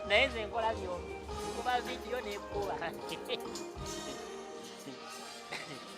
naye nze nkola byombi nkuba vidiyo nekuba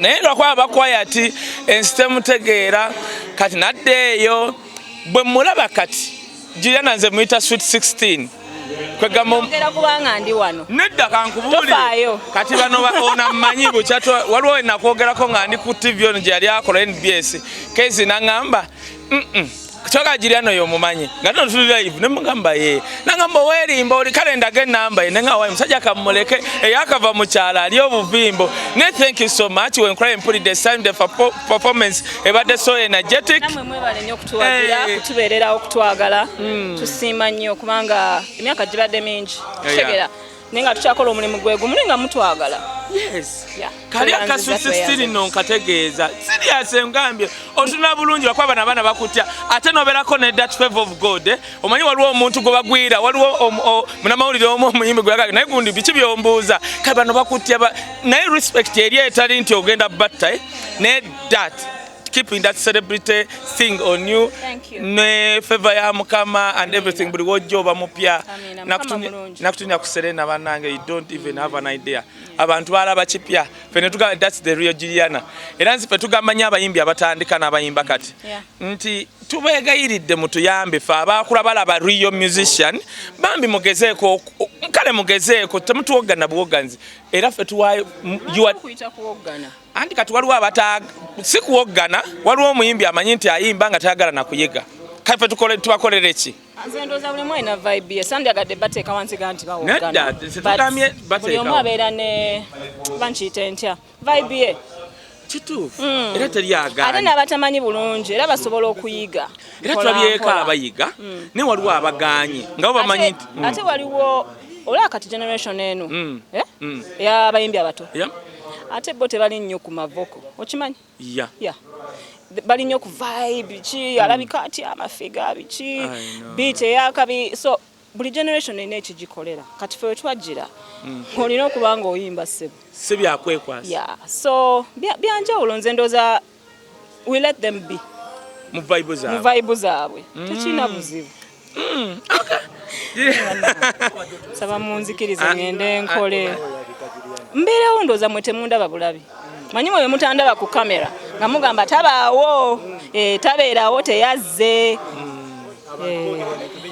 naye lwakuba bakwaya ti ensi temutegeera kati nadde eyo bwe mulaba kati juliana nze muyita swit 16 nedda kankubuulire kati bano ona mmanyi bukyatwa waliwo enakwogerako nga ndi ku tv ono gye yali akola nbs kezi naŋamba kyoka jiri ano yomumanyi nga tino tuli live ne mugamba ye nangamba owerimba oli kale ndaga enamba ye nenga wayi musajja kamuleke eyakava mukyala ali obuvimbo ne thank you so much when cry mpulidde esanyu the performance ebadde so energetic namwe mwebale nnyo okutuwagira hey. Eh. kutubeererawo okutwagala mm. tusiima nnyo kubanga emyaka gibadde mingi tutegera yeah. naye nga tukyakola omulimu gwe gumu naye nga mutwagala kali akasusi siri no nkategeeza sirias engambye otuna bulungi lwakuba bana abaana bakutya ate noberako ne dat fav of god eh? omanyi waliwo omuntu gwe bagwira waliwo munamawulire omu omuyimbi gweyagage naye gundi biki byombuuza kale bano bakutya naye respect eri etali nti ogenda batta eh? ne dat keeping that celebrity thing on you ne favor ya mukama and everything buli wojja oba mupya nakutunya ku serena banange you don't even have an idea abantu balaba kipya fe netugamba thats the real juliana era nzi fe tugamba nyo abayimbi abatandika n'abayimba kati nti tubeegayiridde mutuyambe fe abaakula balaba real musician bambi mugezeeko kale mugezeeko temutuwoggana buwogganzi era fe tuwayo anti kati waliwo abata si kuwoggana waliwo omuyimbi amanyi nti ayimba nga tayagala nakuyiga kaife tubakolere ki kituufu hmm. era teri agaana ate n'abatamanyi bulungi era basobola okuyiga era tulabyeko abayiga hmm. naye waliwo abagaanye nga bo bamanyi nti ate hmm. waliwo olaba kati generation eno eh? eyabayimbi abato Ate bo tebali nnyo ku mavoko. Okimanyi? Yeah. Yeah. Bali nnyo ku vibe ki mm. alabika atya amafiga biki beat eyakabi so buli generation erina ekigikolera kati fe wetwajjira mm. olina okuba nga oyimba ssebo si byakwekwasa yeah. so byanjawulo nze ndooza we let them be mu vibe zaabwe mu vibe zaabwe mm. tekina buzibu mm. okay saba munzikirize ah. ngende nkole mbeerewo ndooza mwe temundaba bulabi manyi mwe bemutandaba ku kamera nga mugamba tabaawo eh, tabeerawo teyazze mm. eh.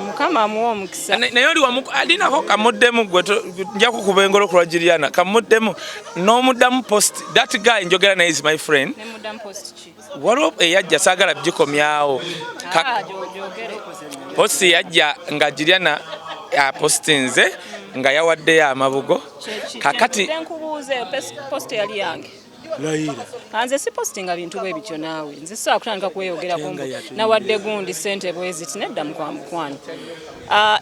mukama amuwa omukisa naye oli wamu alinako kamuddemu gwe nja kukuba engolo ku lwagiriana kamuddemu n'omuddamu post that guy njogera naye is my friend waliwo eyajja saagala bigikomyawo ah, post yajja nga giriana apostinze nga yawaddeyo amabugo kakati layira anze si postinga bintu bwe bityo naawe nze saa kutandika kweyogera ku nawadde gundi sente bweziti nedda mukwa mukwano ah,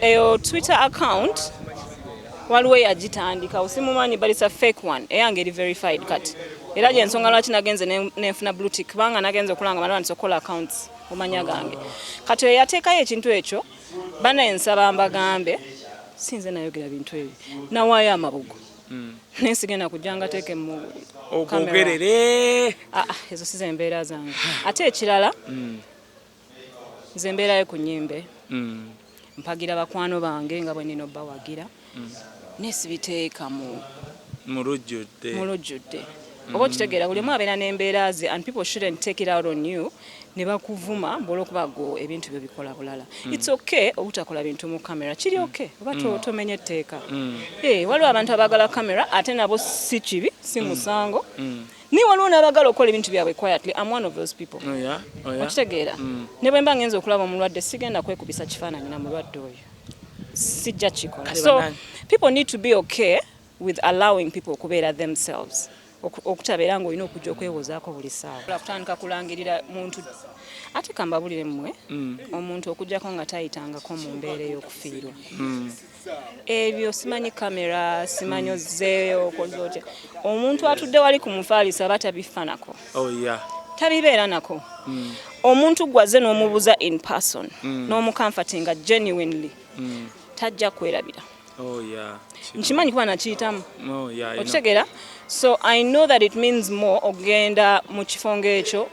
eyo twitter account waliwo eyagitandika osimumanyi but it's a fake one eyange eri verified kati era gyensonga lwaki nagenze nenfuna blue tick kubanga nagenze okulanga malwandisa okukola accounts omanya gange kati eyateekayo ekintu ekyo bana ensaba mbagambe sinze nayogera bintu ebyo nawaayo amabugo mm. naye sigenda kujja nga teeke mu ogogerere ah, ah, ezo si zembeera zange ate ekirala mm. nze mbeerayo ku nyimbe mm. mpagira bakwano bange nga bwenina obbawagira naye sibiteeka mu mu lujjudde oba okitegeera buli omu abeera n'embeera ze and people shouldn't take it out on you ne bakuvuma mbu olwokuba gwe ebintu byo bikola bulala mm. it's okay obutakola bintu mu camera kiri mm. okay oba mm. tomenya etteeka mm. hey, eh, waliwo abantu abagala camera ate nabo si kibi si mm. musango mm. mm. naye waliwo n'abagala okukola ebintu byabwe quietly am one of those people oh, yeah? oh, yeah? okitegeera mm. ne bwe mba ngenza okulaba omulwadde sigenda kwekubisa kifaananyi na mulwadde oyo sijja kikola so people need to be okay with allowing people okubeera themselves okutabeera nga olina okujja okwewozaako buli saawa kutandika kulangirira muntu ate kambabulire mmwe mm. omuntu okujjako nga tayitangako mu mbeera ey'okufiirwa mm. ebyo simanyi kamera simanyi ozeeyo okoze otya omuntu atudde wali ku mufaalisa aba tabifanako oh, tabibeera nako mm. omuntu gwaze n'omubuza in person n'omukamfati nga genuinely tajja kwerabira Oh, nkimanyi kuba nakiyitamu oh, okitegeera so i know that it means more okugenda mu kifo ngaekyo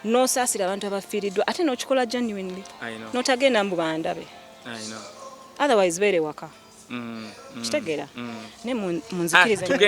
nosaasira abantu abafiiriddwa ate nokikola genuinely notagenda mbu bandabe otherwise beere waka mm, mm, kitegeera mm. naye munzikirize ah,